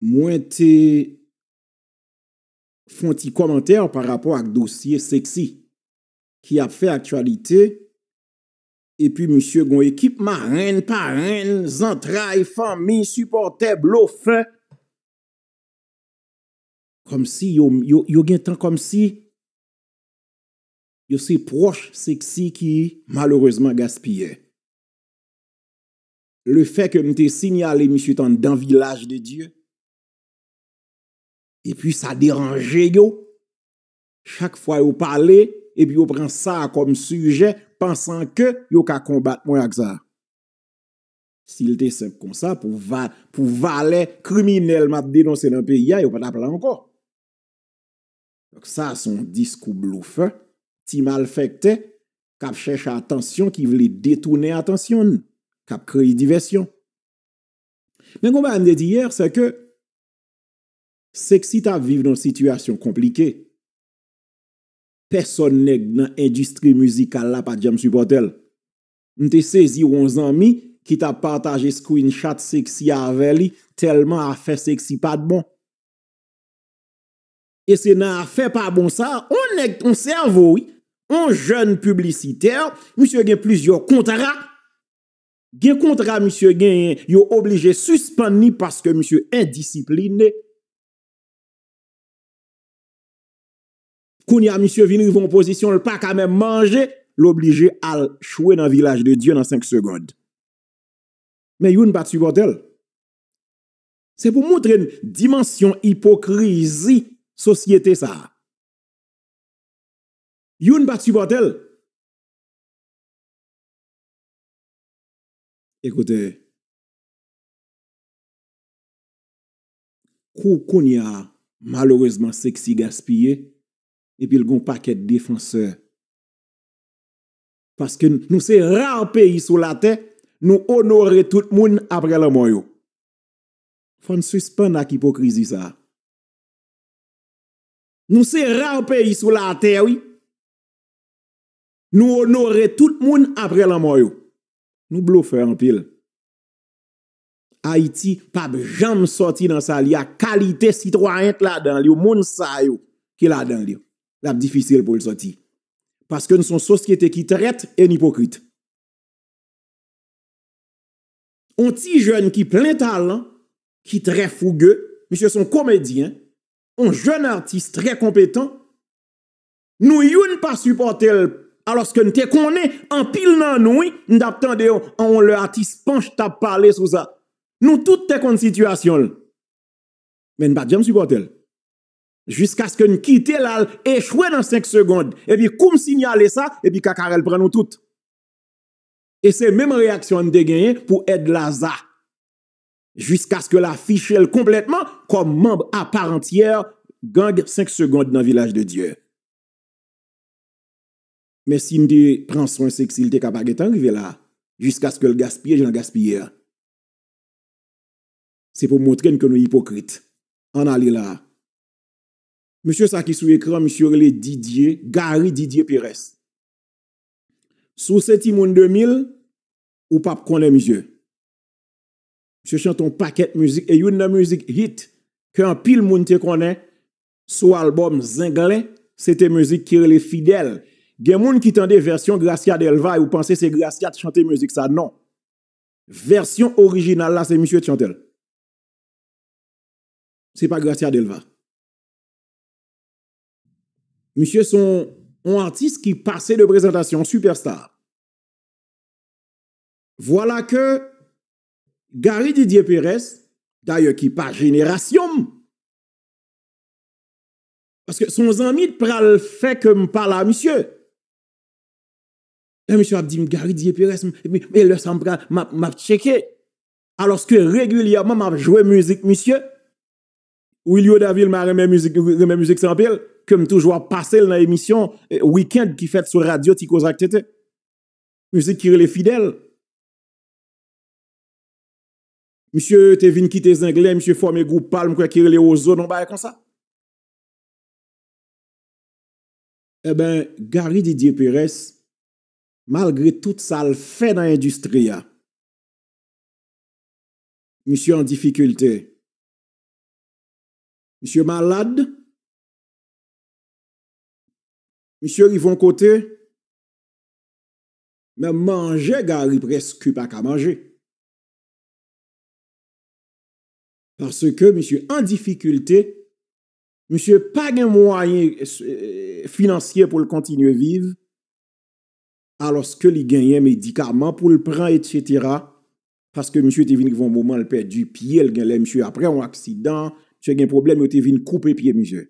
Mwen te fon ti komantè pa rapò ak dosye Sexy ki ap fè aktyalite epi misye gon ekip marenn, parenn, zantray, fanmi, sipòtè, blofè kòmsi yo gen tan kòmsi yo se pwòch Sexy ki malerezman gaspiyè. le fè ke m te sinyale misye t anndan vilaj de Dye, epi sa deranje yo, chak fwa yo pale, epi yo pran sa kòm sijè, pansan ke yo ka konbat mwen ak sa. Si l te senp konsa, pou valè kriminèl m ap denonse nan peyi a, yo pa t ap la ankò. Donk sa se yon diskou blofè, ti malfèktè k ap chèche atansyon, ki vle detounen atansyon n, k ap kreye divèsyon. Men yon bagay m te di yè, se ke Sexy t ap viv nan yon sitiyasyon konplike. Pèsòn nèg nan endistri mizikal la pa t janm sipòte l. M te sezi wè yon zanmi ki t ap pataje screenshot Sexy avè li tèlman afè Sexy pa t bon. E se nan afè pa bon sa, on nèg, on sèvo wi, on jèn piblisitè, misye gen plizyè kontra, gen kontra misye genyen, yo oblije sispann li paske misye endisipline. Kounye a misye vin rive yon pozisyon l pa ka menm manje, l oblije al chwe nan Vilaj de Dye nan 5 segond. Men youn pa t sipòte l. Se pou montre n dimansyon ipokrizi sosyete sa a. Youn pa t sipòte l. Ekoute, kou kounye a malerezman Sexy gaspiye epi l gen yon pakèt defansè paske nou se rare peyi sou latè nou onore tout moun aprè lanmò yo. Fòn sispann ak ipokrizi sa. Nou se rare peyi sou la tè wi. Nou onore tout moun apre lanmò yo. Nou blofè anpil. Ayiti pap janm sòti nan sa li a kalite sitwayen k ladan l yo moun sa yo ki ladan l yo. Lap difisil pou l sòti. Paske n son sosyete ki trèt e n ipokrit. On ti jèn ki plen talan, ki trè fouge, misye son komedyen, on jèn atis trè konpetan, nou youn pa sipòte l alòske n te konnen anpil nan nou wi, m t ap tande yo an on lè atis Panch t ap pale sou sa, nou tout te konn sitiyasyon l men n pa t janm sipòte l jiskaske n kite l al echwe nan 5 segond epi kou m sinyale sa epi kakarèl pran nou tout. E se menm reyaksyon an te genyen pou Ed Laza. Jiskaske l afiche l konplètman kòm manb aparantyè gang 5 segond nan Vilaj de Dye. Men si m te pran swen seksi l te ka pa gen tan rive la. Jiskaske l gaspiye jan l gaspiye a. Se pou montre n ke nou ipokrit. An n ale la. Mesye sa ki sou ekran misye rele Didier, Gary Didier Perès. Si w se timoun 2000, ou pap konnen misye. Misye chante yon pakèt mizik e youn nan mizik hit ke anpil moun te konnen sou albòm Zenglen, se te mizik ki rele Fidèl. Gen moun ki tande vèsyon Gracia Delva yo panse se Gracia t chante mizik sa, non. Vèsyon orijinal la se misye t chante l. Se pa Gracia Delva. Misye son on atis ki pase de prezantasyon, on sipèsta. Vwala ke Gary Didier Perès, dayè ki pa jenerasyon m, paske son zanmi t pral fè ke m pale a misye. Lè misye ap di m Gary Didier Perès, e lè sa m pral, m ap tcheke. Alòske regilyèman m ap jwe mizik misye. Wilio Davil ma renmen mizik nou renmen mizik sa anpil ke m toujou ap pase l nan emisyon weekend ki fèt sou radyo ti koze ak TT mizik ki rele fidèl misye te vin kite zenglen misye fòme gwoup pa l m kwè ki rele wozo non bagay konsa eben Gary Didier Perès malgre tout sa l fè nan endistri a misye an difikilte. Misye malad. Misye rive yon kote. Menm manje Garry preske pa ka manje. Paske misye an difikilte. Misye pa gen mwayen finansye pou l kontinye viv. Aloske li genyen medikaman pou l pran et cetera. paske misye te vin rive yon moman l pèdi pye l genlè misye aprè yon aksidan misye gen pwoblèm yo te vin koupe pye misye.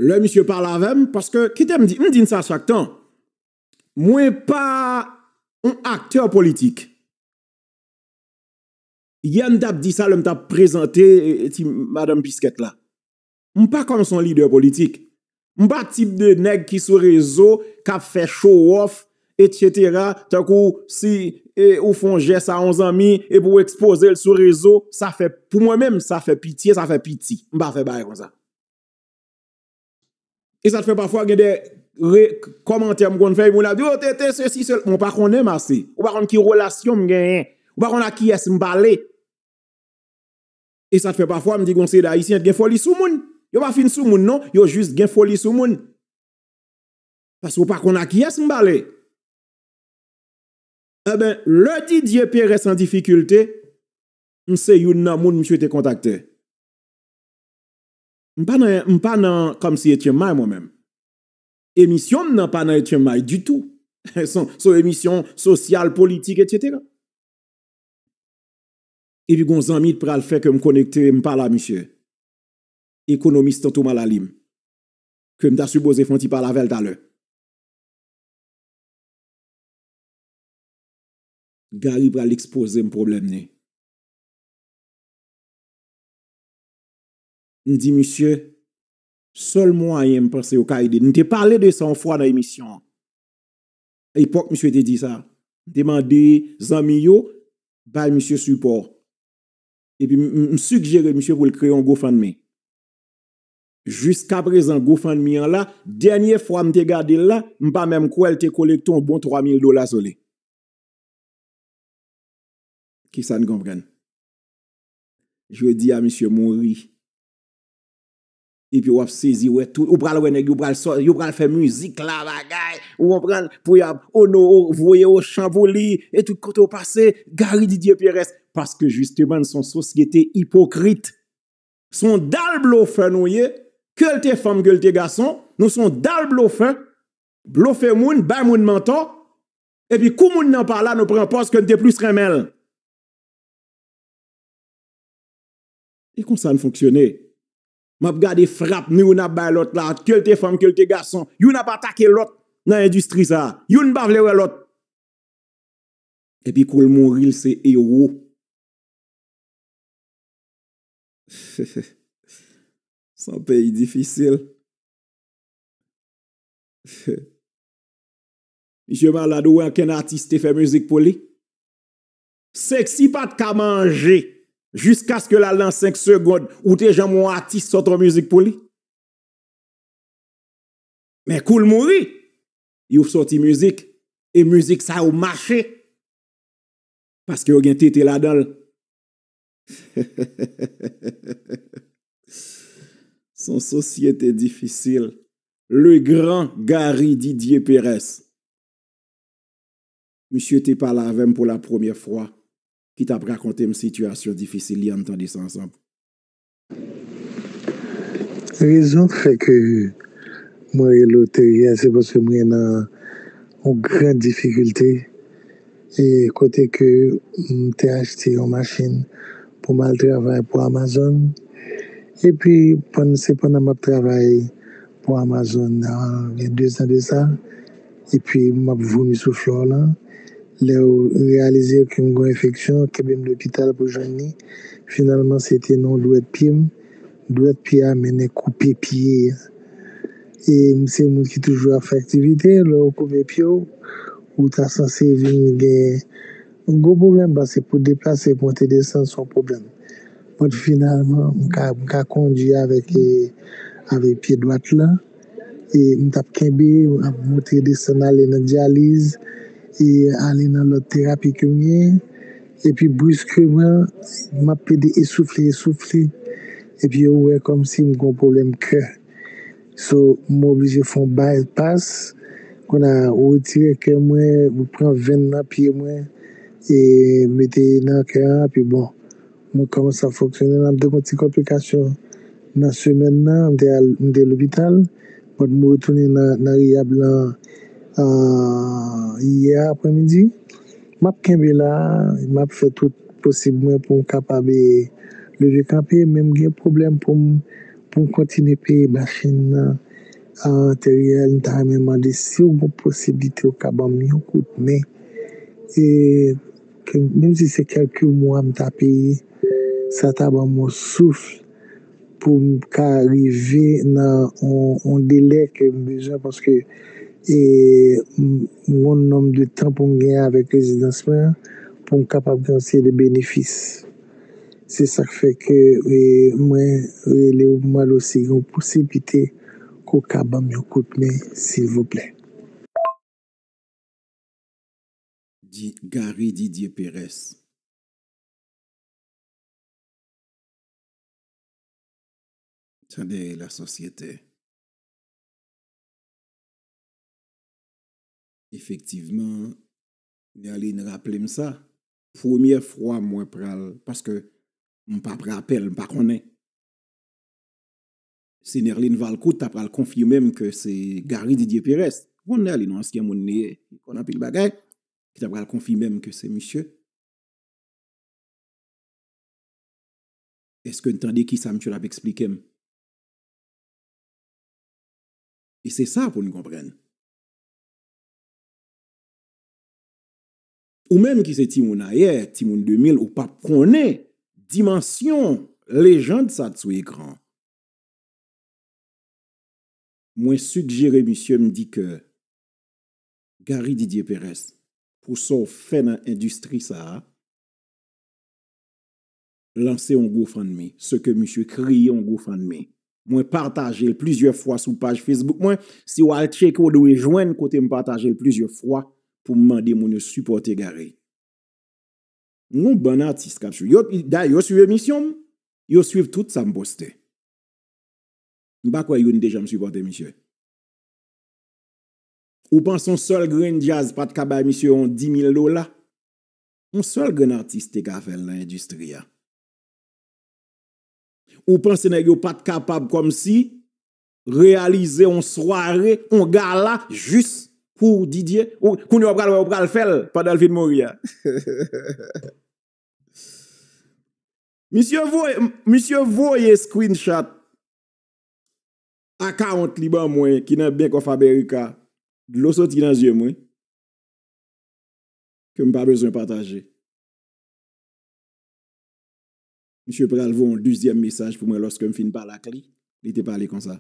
Lè misye pale avè m paske kite m di m di n sa chak tan mwen pa yon aktè politik yè m t ap di sa lè m t ap prezante ti madanm piskèt la M pa kòm son lidè politik. M pa tip de nèg ki sou rezo kap fè chowòf etc. Tankou si ou fon jès a yon zanmi epi ou ekspozel sou rezo sa fè pou mwen menm sa fè pitye sa fè piti. M pa fè bagay konsa. E sa fè pafwa gen de kòmantè m konn fè epi moun ap di oh TT sesi sela. Mwen pa konnen m ase. Ou pa konn ki relasyon m genyen. Ou pa konn a kiyès m pale. E sa k fè pafwa m di gen yon seri d'Ayisyen ki gen foli sou moun. Yo pa fin sou moun non, yo jis gen foli sou moun. Paske ou pa konn a kiyès m pale. Enben, lè Didier Perès an difikilte, m se youn nan moun misye te kontakte. M pa nan, m pa nan Kòmsi Etyen May mwen menm. Emisyon m nan pa nan Etyen May ditou. Se yon emisyon sosyal, politik, etsetera. Epi gon zanmi t pral fè kem konekte m pa la misye Ekonomis tanto malalim kem ta sipoze fon ti pale avèl talè. Gary pral expozem problème ni. M di misye sèl mwayen m panse yo ka ede n. M te pale de sa yon fwa nan emisyon an. epòk misye te di sa, m te mande zanmi yo bay misye sipò. Epi m sigjere misye pou l kreye yon GoFundMe. Jiskaprezan GoFundMe an la, dènye fwa m te gade l la, m pa menm kwè l te kolekte yon bon 3 mil dola sou li. Kisa n konprann? Jodi a misye mouri. Epi wap sezi wè tout, ou pral wè nèg yo pral sò, yo pral fè mizik la bagay, ou konprann, pou y ap ono, voye ochan pou li, e tout kote ou pase, Gary Didier Pierres, paske jisteman n son sosyete ipokrit, son dal blofè nou ye, ke l te fanm, ke l te gason, nou son dal blofè, blofe moun, bay moun mantò, epi kou moun nan pa la nou pran pòz ke n te plis renmen l. E konsa l fonksyone. M ap gade frap nou youn ap bay lòt la, ke l te fanm, ke l te gason. Youn ap atake lòt nan endistri sa a. Youn pa vle wè lòt. Epi kou l mouri l se ewo. S on peyi difisil. Misye malad ou wè ankenn atis te fè mizik pou li? Sexy pat ka manje jiskaske l al nan 5 segond ou te janm wè yon atis sot yon mizik pou li men kou l mouri yo soti mizik e mizik sa yo mache paske yo gen tete ladan l heheheheheheh s on sosyete difisil le gran Gary Didier Perès. Misye te pale avè m pou la premyè fwa, ki t ap rakonte m sitiyasyon difisil li. Ann tande sa ansanm. Rezon k fè ke mwen rele w teri a, se paske mwen nan yon gran difikilte, e kote ke m te achte yon machin pou m al travay pou Amazon, epi se pandan m ap travay pou Amazon, gen dezan de sa, Epi map vomi sou floor lan. Lèw reyalize ke m gon enfeksyon, kenbe m lopital pou jwenn li. Finalman se te nan yon dwèt pye m. Dwèt pye a mennen koupe pye a. E m se yon moun ki toujou ap fè aktivite, lè yo koupe pye w, ou ta sanse vin gen yon gwo pwoblèm paske pou deplase, monte desann se yon pwoblèm. But finalman m ka kondwi avèk pye dwat lan. e m t ap kenbe, m ap monte desann ale nan dyaliz e ale nan lòt terapi ke m gen epi briskman m ap pede esoufle esoufle epi yo wè kòmsi m gon pwoblèm kè so m oblije fè yon bypass kon a retire kè mwen pran venn nan pye mwen e mete nan kè an epi bon. Mwen kòman sa fonksyone nan de mwen ti konplikasyon nan semèn nan m te al m te lopital but m retounen nan riyab lan yè aprè midi map kenbe la map fè tout posib mwen pou m kapab leve kanpe men m gen pwoblèm pou m pou m kontinye peye machin nan antereyèl m ta renmen mande siw gon posiblite ou ka banm yon kout men e Menm si se kelke mwa m ta peye sa ta banm yon souf pou m ka rive nan yon delè ke m bezwen paske m gon nonm de tan pou m gen avèk rezidans mwen an pou m kapab gen yon seri de benefis se sak fè ke mwen rele w mande w si gen posiblite ke w ka banm yon kout men silvouplè. Di Gary Didier Perez. Tande la sosyete. Efektivman Nerline raple m sa. Premye fwa mwen pral paske m pa pran apèl m pa konnen. Si Nerline Valcourt ta pral konfime m ke se Gary Didier Perez, ou konn Nerline, yon ansyen moun li ye, li konn anpil bagay, ki ta pral konfime m ke se misye, eske n tande kisa misye t ap esplike m? E se sa pou n konprann. Ou menm ki se timoun ayè, timoun 2000, ou pap konnen dimansyon lejand sa t sou ekran an. Mwen sigjere misye m di ke Gary Didier Perez pou sa w fè nan endistri sa a. lanse yon GoFundMe, se ke misye kreye yon GoFundMe. Mwen pataje l plizyè fwa sou paj Facebook mwen, si w al tcheke w dwe jwenn kote m pataje l plizyè fwa pou m mande moun yo sipòte Gary. M gen yon bann atis k ap swiv, yo dayè yo swiv emisyon m, yo swiv tout sa m poste. M pa kwè youn te janm sipòte misye. Ou panse yon sèl grenn djaz pa t ka bay misye yon dimil dola? Yon sèl grenn atis te ka fèl nan endistri a. Ou panse nèg yo pat kapab kòmsi reyalize yon sware, yon gala jis pou Didye? Kounye ou pral wè yo pral fèl pandan l fin mouri a. Misye voye screenshot account li ban mwen ki nan Bank of America. Dlo soti nan zye m wi. ke m pa bezwen pataje. Misye pral voye yon dezyèm mesaj pou mwen lòske m fin pale ak li, li te pale konsa.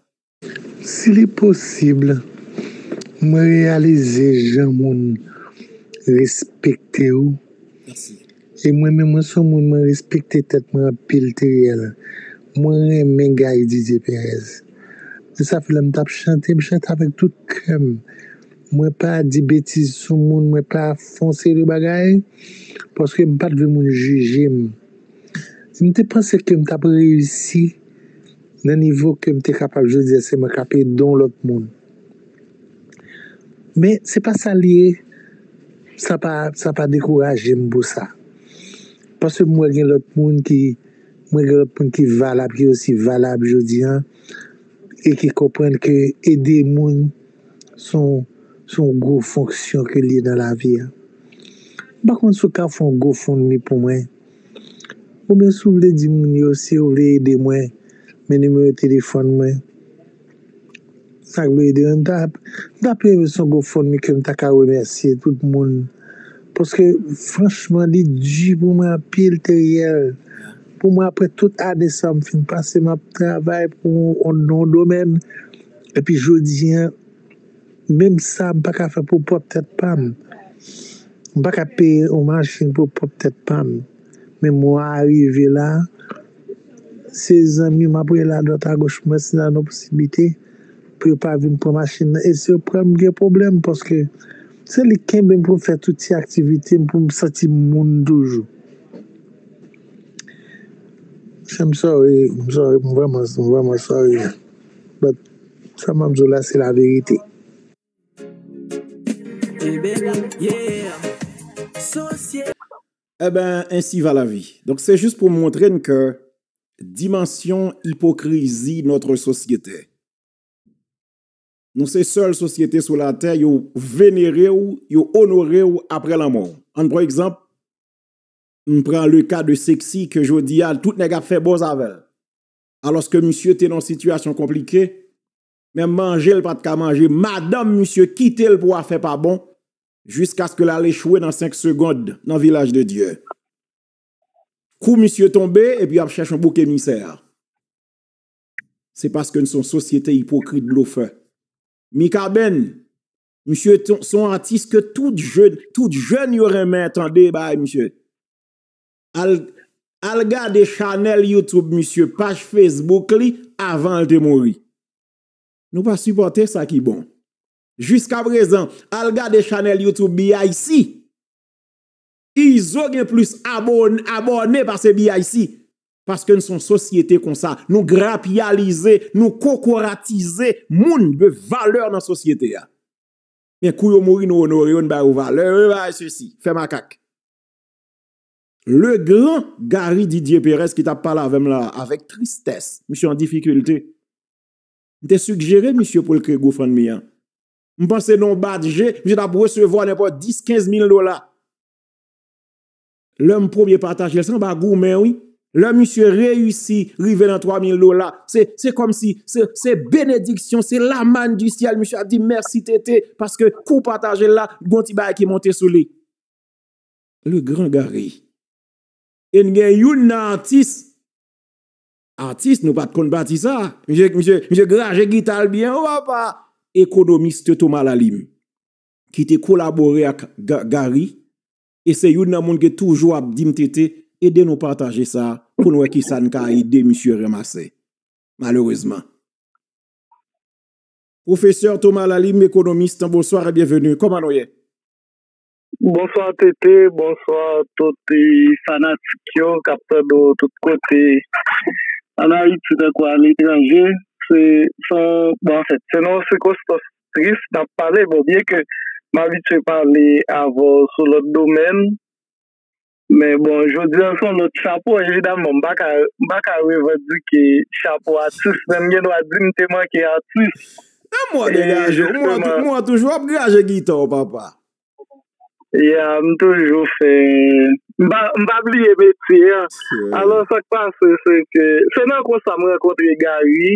Si li posib, mwen reyalize jan moun respekte ou. Mèsi. E mwen menm mwen son moun mwen respekte tèt mwen anpil Theriel. Mwen renmen Guy Didier Perez. Men sa fè lè m t ap chante, m chante avèk tout kè m. Mwen pa di betiz sou moun mwen pa fon seri de bagay paske m pat vle moun jije m m te panse ke m tap reyisi nan nivo ke m te kapab jodi a se mwen kap ede yon lòt moun men se pa sa li ye sa pa sa pa dekouraje m pou sa paske m wè gen lòt moun ki mwen gen lòt moun ki valab ki osi valab jodi a e ki konprann ke ede moun. se yon, se yon gwo fonksyon ke li ye nan lavi a. M pa konn si w ka fè yon gofundme pou mwen, oubyen si w vle di moun yo si yo vle ede mwen, men nimewo telefòn mwen. Sa k vle di an, m ta, m ta pi renmen si se yon gofundme ke m ta ka remèsye tout moun, paske franchman li di pou mwen anpil Teriel, pou mwen aprè tout ane sa m fin pase m ap travay pou yon domèn. Epi jodi an, menm sa m pa ka fè pou pwòp tèt pa m. M pa ka peye yon machin pou pwòp tèt pa m. Men mwa a rive la, se zanmi m ap rele adwat agoch mwen si n nan posiblite pou yo pa vin pran machin nan. E si yo pran l, m gen pwoblèm paske se li k kenbe m pou m fè tout ti aktivite m pou m santi m moun toujou. Chè m sòri, m sòri, m vrèman sòri. But sa map diw la se la verite. Eben ainsi va la vie. Donk se jis pou montre n ke dimansyon ipokrizi notre sosyete. Nou se sèl sosyete sou la tè yo venere w, yo onore w aprè lanmò w. An pran egzanp, m pran le ka de Sexy ke jodi a tout nèg ap fè buzz avè l. alòske misye te nan sitiyasyon konplike, menm manje l pa t ka manje, madanm misye kite l pou afè pa bon, jiskaske l al echwe nan 5 segond nan Vilaj de Dye. Kou misye tonbe epi y ap chèche yon bouk emisè, se paske n se yon sosyete ipokrit blofè. Mikaben, misye se yon atis ke tout jèn yo renmen tande bagay misye. Al gade chanèl YouTube misye, paj Facebook li avan l te mouri. Nou pa sipòte sa ki bon. Jiska prezan, al gade chanèl YouTube BIC. Izo gen plis abòne pase BIC. Paske n son sosyete konsa. Nou grapyalize, nou kokoratize moun de valè nan sosyete a. Men kou yo mouri nou onore yo, n ba yo valè, yo bay se si. Fè makak. Le gran Gary Didier Perez ki t ap pale avè m la a, avèk tristès, misye an difikilte. M te sigjere misye pou l kreye GoFundMe an. M panse nan yon bat je, misye t ap resevwa nenpòt 10, 15 mil dola. Lè m premye pataje l, se anba goumen wi. Lè misye reyisi rive nan 3 mil dola, se kòm si se benediksyon, se la manne du ciel, misye ap di mèsi TT, paske kou w pataje l la, gon ti bagay ki monte sou li. Le grand Garry. E n gen youn nan atis, atis nou pat konn pati sa, misye graje gita l byen wo apa, ekonomiste Thomas Lalime ki te kolabore ak Garry e se youn nan moun ki toujou ap di m TT ede nou pataje sa pou n wè kisa n ka ede misye ranmase. Malerezman. Professeur Thomas Lalime, économiste, bonsoir et bienvenue. Kòman nou ye? Bonswa TT, bonswa tout fanatik yo k ap tande w tout kote, ann Ayiti tankou aletranje. Se yon sikonstans tris n ap pale, byenke m abitye pale avè w sou lòt domèn. Men bon, jodi an son lòt chapo, evidaman m pa ka m pa ka revandike chapo atis men m gen dwa di m te manke atis. Menm mwen degaje w, mwen toujou ap graje gita w papa. Ya, m toujou fè, m pa m pa bliye metye an. Alò sa k pase se ke se nan konsa m rankontre Gary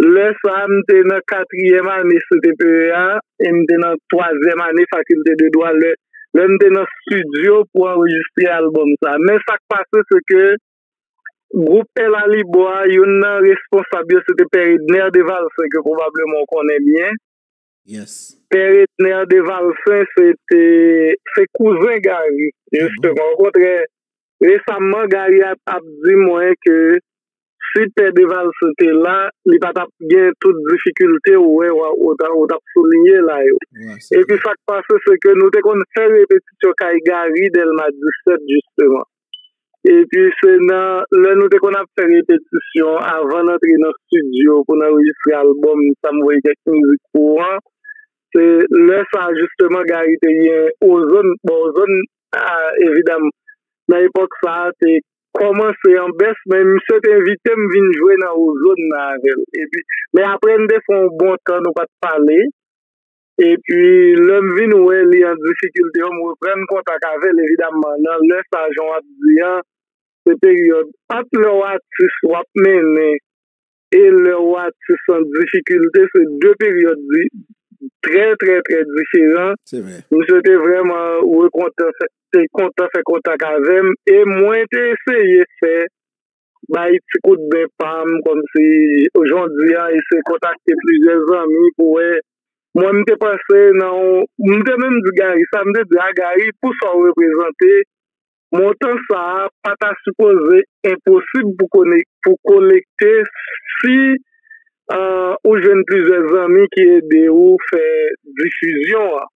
Lè sa a, m te nan katriyèm ane CTPE a e m te nan twazyèm ane fakilte de dwa lè m te nan stidyo pou anrejistre albòm sa a. Men sa k pase se ke gwoup El Alibo a, youn nan responsab yo se te Pè Edner Devalsen ke pwobableman ou konnen byen. Yes. Pè Etner de Valcin se te se kouzen Garry jisteman o kontrè resamman Garry ap di mwen ke si pè de Valcin te la li pa t ap gen tout difikilte ou wè ou t ap souliye la yo epi sa k pase se ke nou te konn fè repetisyon kay Garry Dèlma 17 jisteman Epi se nan lè nou te konn ap fè repetisyon avan n antre nan stidyo pou n anrejistre albòm sa m voye kèk mizik pou ou an, se lè sa a jisteman Gari te gen Ozone. Bon Ozone evidam nan epòk sa a te kòmanse an bès men misye te envite m vin jwe nan Ozone nan avè l. Epi men apre n te fè yon bon tan nou pa t pale. Epi lè m vin wè li an difikilte yo, m reprann kontak avè l evidamman nan lè sa jan w ap di an se peryòd ant lè w atis w ap mennen e lè w atis an difikilte se de peryòd trè trè trè diferan. Misye te vrèman rekontan, te kontan fè kontak avè m e mwen te eseye fè bay ti kout men pam kòmsi jodya eseye kontakte plizyè zanmi pou wè mwen m te panse nan yon m te menm di Gary sa m te di a Gary pou sa w reprezante montan sa pa ta sipoze enposib pou konnen pou kolekte si ou jwenn plizyè zanmi ki ede ou fè difizyon an.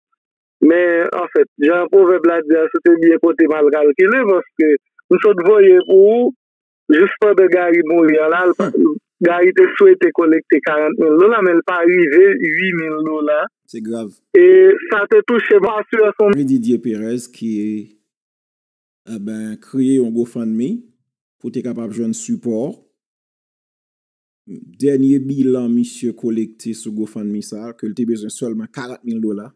Men anfèt, jan pwovèb la di a si w te byen pote mal kalkile paske m sot voye pou ou jis pandan Gary mouri an la Gary te swete kolekte 40 mil dola men l pa rive 8 mil dola e sa te touche m ansi wè son. Didier Perez ki kreye yon GoFundMe pou te kapab jwenn sipò. Dènye bilan misye kolekte sou GoFundMe sa, ke l te bezwen sèlman 40 mil dola,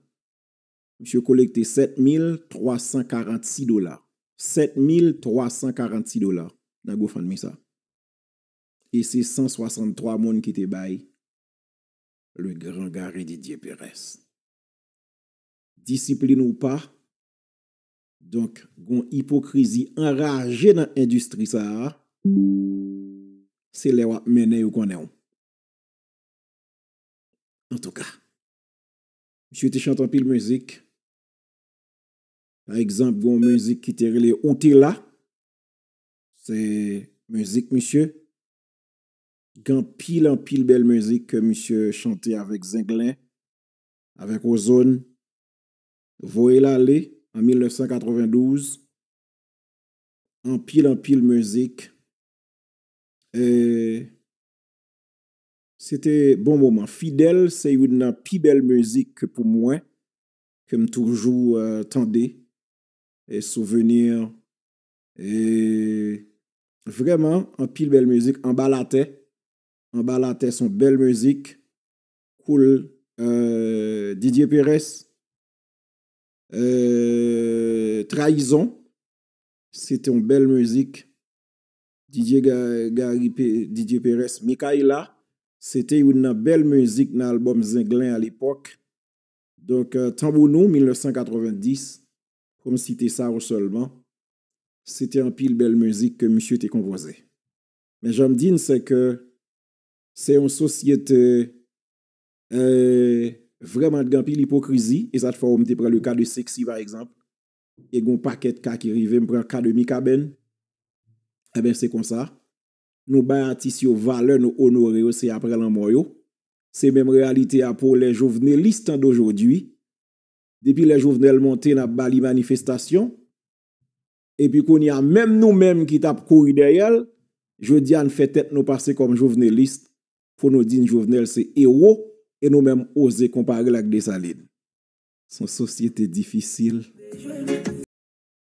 misye kolekte 7 mil 346 dola. 7 mil 346 dola nan GoFundMe sa. E se 163 moun ki te bay Le Grand Gary Didier Perez. Disiplin ou pa, Donk gon ipokrizi anraje nan endistri sa a, se lè wap mennen yo konnen w. Antouka. Misye te chante anpil mizik. Pa egzanp gon mizik ki te rele ou te la. Se mizik misye. Gen anpil anpil bèl mizik ke misye chante avèk zenglen, avèk ozone. Voye l ale an 1992 anpil anpil mizik eeh se te bon moman fidèl se youn nan pi bèl mizik ke pou mwen ke m toujou tande e souvenir eeh vrèman anpil bèl mizik anba latè anba latè son bèl mizik cool euh Didier Perès euh trayizon se te yon bèl mizik Didier Gary Didier Perès Mikaïla se te youn nan bèl mizik nan albòm zenglen a lepòk donk tanbou nou 1990 pou m site sa yo sèlman se te anpil bèl mizik ke misye te konpoze men jan m di n se ke Se yon sosyete vrèman gen anpil ipokrizi e sa t fè w m te pran le ka de Sexy pa egzanp e gen yon pakèt ka ki rive m pran ka de Mikaben enben se konsa nou bay atis yo valè nou onore yo se aprè lanmò yo se menm reyalite a pou les jovenelistes d'aujourd'hui depi lè Jovenel monte n ap ba li manifestasyon epi kounye a menm nou menm ki tap kouri dèyè l jodi a n fè tèt nou pase kòm joveneliste pou nou di n Jovenel se ewo e nou menm oze konpare l ak Dessalines s on sosyete difisil.